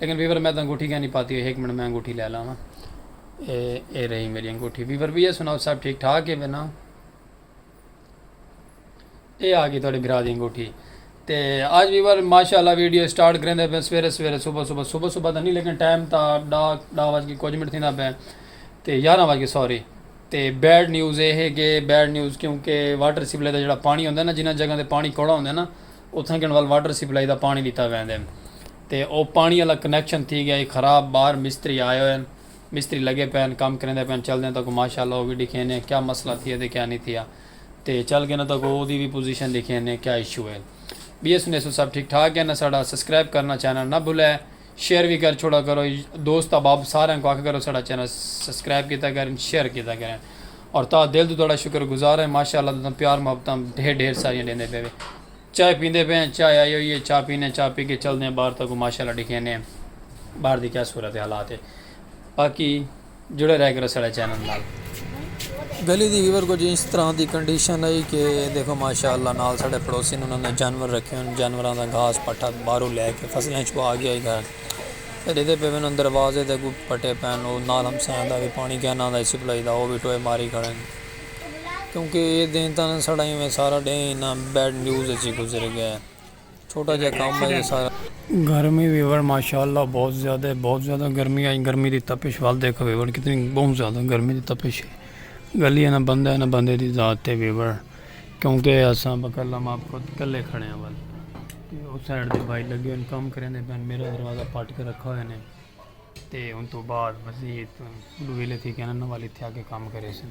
لیکن ویور میں تاں انگوٹھی کائنی پاتی ہوئی ہک منٹ میں انگوٹھی لے لاواں اے اے رہی میری انگوٹھی ویور بھی یہ سناؤ سب ٹھیک ٹھاک ہے بنا اے آ گئی تھوڑے بھرا دی انگوٹھی تے آج ویور ماشاءاللہ ویڈیو سٹارٹ کریں دے پہ سویرے سویرے صبح صبح صبح صبح تاں نہیں لیکن ٹائم تا ڈا ڈا واج کے کچھ منٹ تھیندا پہ تے یارہ واج کے سوری تے بیڈ نیوز اے ہے کہ بیڈ نیوز کیونکہ واٹر سپلائی دا جڑا پانی ہوندا ہے نا جنہ جگہ تے پانی کوڑا ہوندا ہے نا اتھاں گن ول واٹر سپلائی دا پانڑی ڈتا ویندے تے او پانڑی آلا کنکشن تھی گیا ہی خراب باہر مستری آئے ہوئے ہن مستری لگے پئے ہن کم کریندے پئے ہن چلدے ہن تہاکوں ماشاء اللہ او وی ڈکھینے آں کیا مسئلہ تھیا تے کیا نی تھیا تے چل گینا تہاکوں او دی وی پوزیشن ڈکھینے کیا ایشو ہے بیس انیس سو سب ٹھیک ٹھاک ہن اساڈا سسکرائب کرنا چینل نہ بھلے شیئر وی کر چھوڑا کرو دوست احباب ساریاں کو آکھا کرو ساڈا چینل سبسکرائب کیتا کرن شیئر کیتا کرن اور تاں دل توں تہاڈا شکر گزار ہیں ماشاءاللہ تساں پیار محبتاں ڈھیر ڈھیر ساریاں ڈیندے پئے چائے پیندے پئے ہیں چائے آئی ہوئی ہے چاہ پینے ہیں چاہ پی کے چلدے ہیں باہر تاں کو ماشاءاللہ ڈکھینے ہیں باہر دی کیا صورت حالات ہے باقی جڑے رہ کرو ساڑے چینل نال۔ گلی دی ویور کجھ انج طرح دی کنڈیشن ہئی کہ دیکھو ماشاء اللہ نال ساڑے پڑوسی نے انہاں نے جانور رکھے ہن جانوراں دا گھاس پٹھا باہروں لے کے فصلاں چ پا گیا ہی گھر تے ڈیدھے پے وین دروازے دے اگوں پٹے پین او نال ہمسایاں دا وی پانی کیناں دا سپلائی دا او وی ٹوئے ماری کھڑے ہن کیونکہ اے دن تاں ساڑا ایویں سارا ڈینہہ انہاں بیڈ نیوز اچ ہی گزر گیا۔ چھوٹا جیہا کم ہے یہ سارا۔ گرمی ویوڑ ماشاءاللہ بہت زیادہ ہے بہت زیادہ گرمی آج گرمی دی تپش وال دیکھو ویوڑ کتنی بہت زیادہ گرمی دی تپش ہے گلی ہے نہ بندہ ہے نہ بندے دی ذات تے ویوڑ کیونکہ اساں بکلا ماں پوت کلے کھڑے ہیں وال تے او سائیڈ دے بھائی لگے ان کام کریں دے پین میرا دروازہ پاٹ کے رکھا ہوئے نے تے ان تو بعد مزید دویلے تھی کہنا نہ والی تھیا کے کام کرے سن۔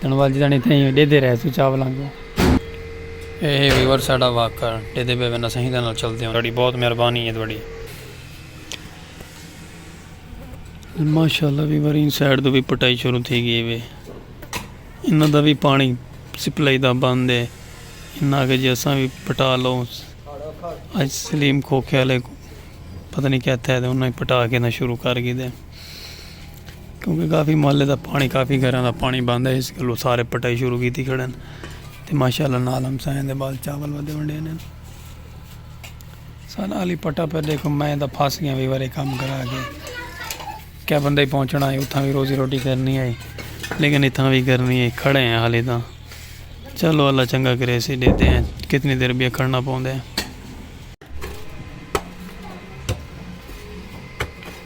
تنوال جتانی تھے ہی ڈیدے رہے سو چاولاں کوں۔ اے ہے ویور ساڈا واک کر ڈیدے بے وین اساں ہیدے نال چلدے ہوں تہاڈی بہت مہربانی ہے تہاڈی۔ ماشاءاللہ ویور ایں سائیڈ توں وی پٹائی شروع تھی گئی ہے انہاں دا وی پانی سپلائی دا بند ہے انہاں آکھیا جی اساں وی پٹا لو اج سلیم کھوکھے والے پتہ نی کیتھے تے انہاں پٹا کے شروع کر گھیدے۔ کیونکہ کافی محلے دا پانی کافی گھراں دا پانی بند ہے اس گلو سارے پٹائی شروع کیتی کھڑن تے ماشاءاللہ نال ہم سائیں دے بال چاول ودے ونڈے نے سارا علی پٹا پہ دیکھو میں دا پھاس گیا وی وارے کام کرا کے کیا بندہ ہی پہنچنا ہے اتھاں بھی روزی روٹی کرنی ہے لیکن اتھاں بھی کرنی ہے کھڑے ہیں حالی تاں چلو اللہ چنگا کرے سی دیتے ہیں کتنی دیر بھی کھڑنا پوندے ہیں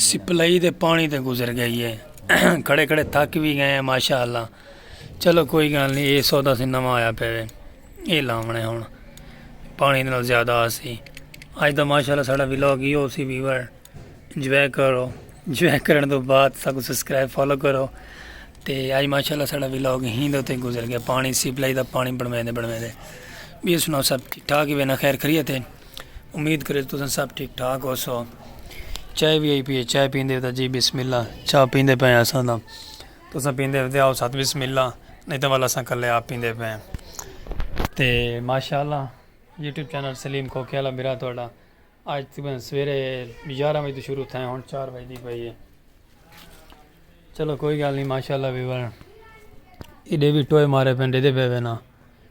سپلائی دے پانی تے گزر گئی ہے کھڑے کھڑے تھک بھی گئے ہیں ماشاء اللہ چلو کوئی گل نہیں یہ سودا سی نواں آیا پہ یہ لاونے ہوں پانی دے زیادہ آسی اج دا ماشاء اللہ ساڑا ولاگ یہ ہو سی ویور انجوائے کرو انجوائے کرنے تو بعد سب سبسکرائب فالو کرو تے اج ماشاء اللہ ساڑا ولاگ ہی دے تے گزر گیا پانی سپلائی دا پانی بڑھویں دے بڑھویں دے بھی سنو سب ٹھیک ٹھاک ہی بنا خیر خریت ہے امید کرے تو تساں سب ٹھیک ٹھاک ہو سو چائے بھی آئی پیے چائے پیندے ہوتا جی بسم اللہ چاہ پیندے پہ ہیں اساں دا تو اساں پیندے ہوتے آؤ ساتھ بسم اللہ نہیں تو والا اساں کلے آپ پیندے پہ ہیں تے ماشاءاللہ یوٹیوب چینل سلیم کھوکے والا میرا تھوڑا آج تقریباً سویرے گیارہ بجے شروع تھے ہوں چار بجے دی پئی ہے چلو کوئی گل نہیں ماشاءاللہ ویور ایڈے بھی ٹوئے مارے پہ ڈے دے پہ نا